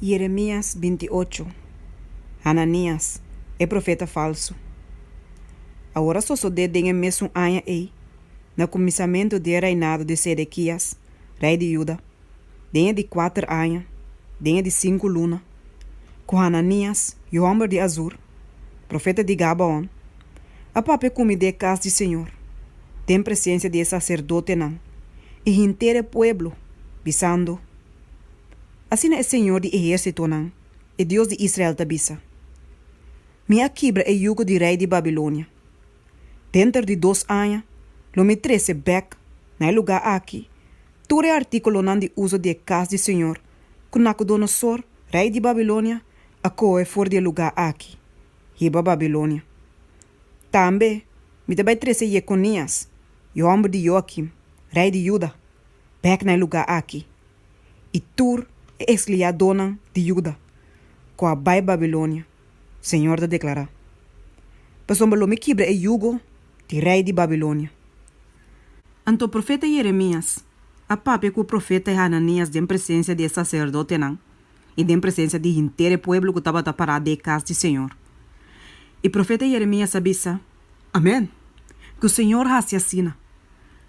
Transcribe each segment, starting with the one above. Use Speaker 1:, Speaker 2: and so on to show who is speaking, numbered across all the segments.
Speaker 1: Jeremias binti i ocho, Hananias, e profeta falsu. Awor a sosodé den e mesun aña ei, na kuminsamentu di e reinado di Sedekias, rei di Juda, den e di kuater aña, den e di sinku luna, ku Hananias, yu hòmber di Azur, profeta di Gabaon, a papia kumidé e kas di Señor, den presensia di e saserdotenan i henter e pueblo, bisando, Asina e Señor di ehérsitonan, e Dios di Israel ta bisa, Mi a kibra e yugo di rei di Babilonia. Denter di dos aña lo mi trese bèk na e lugá aki tur e artíkulonan di uso di e kas di Señor ku Nakudonosor, rei di Babilonia, a kohe for di e lugá aki, hiba Babilonia. Tambe mi ta bai trese Yekonias, yòmber di Yoakim, rei di Juda, bek na e lugá aki, i tur e eksliadonan di Juda ku a bai Babilonia, señor ta deklará, pasobra lo mi kibra e yugo di rei di Babilonia. Anto profeta Yeremias a papia ku profeta Hananias den presensia di e saserdotenan i den presensia di henter e pueblo ku tabata pará dei kas di señor. I profeta Yeremias a bisa, Amen. Ku Señor hasi asina.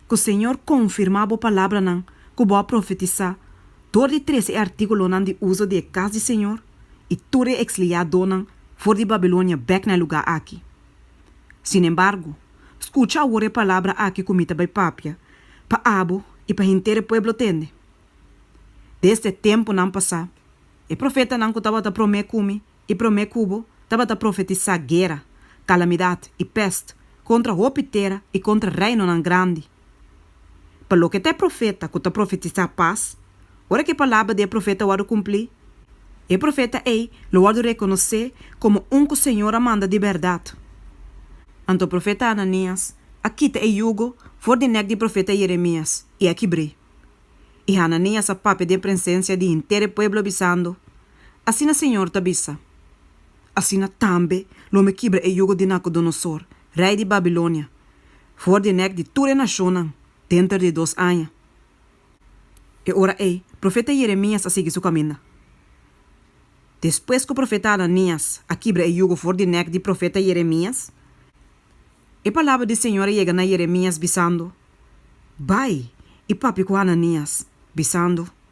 Speaker 1: Ku Señor konfirmá bo palabranan ku bo a profetisá dor di trese e artíkulonan di uso di e kas di Señor i tur e eksliadonan for di Babilonia bèk na e lugá aki. Sinembargo, skucha awor e palabra aki ku mi ta bai papia pa abo i pa henter e pueblo tende. Desde e tempunan pasá, e profetanan ku tabata promé ku mi E promé kubo tabata profetisá guera, kalamidat i pèst kontra hopi tera i kontra reinonan grandi. Pa loke ta e profeta ku ta profetisá pas, ora ku e palabra di e profeta wòrdu kumplí, e profeta ei lo wòrdu rekonosé komo un ku Señor a manda di bèrdat. Anto profeta Hananias a kita e yugo for di nèk di profeta Yeremias i a kibr'é. I Hananias a papia den presensia di henter e pueblo bisando, Asina Señor ta bisa, Asina tambe lo mi kibra e yugo di Nacudonosor, rei di Babilonia, for di e nek di tur e nacionnan denter di dos aña. E ora ei, profeta Jeremias a sigui su caminda. Despues cu profeta Ananias a kibra e yugo for di nek di profeta Jeremias, e palabra di Señor a yega na Jeremias bisando, Bai i papia cu Ananias, bisando,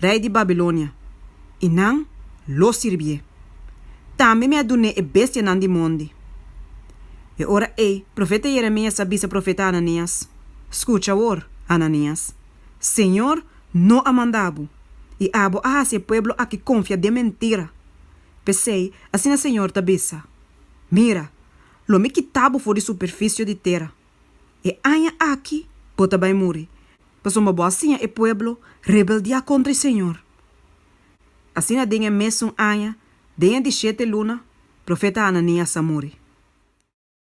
Speaker 1: rei di Babilonia, i nan lo sirbié. Tambe mi a dun'é e bestianan di mondi. E ora ei profeta Jeremias a bisa profeta Ananias, Skucha awor, Ananias. Señor no a manda bo, i abo a hasi e pueblo aki konfia den mentira. P'esei asina Señor ta bisa, Mira, lo mi kita bo for di superfisio di tera. E aña aki bo ta bai muri. pasobra bo a siña e pueblo rebeldiá kontra e Señor. Asina den e mesun aña, den e dishete luna, profeta Hananias a muri.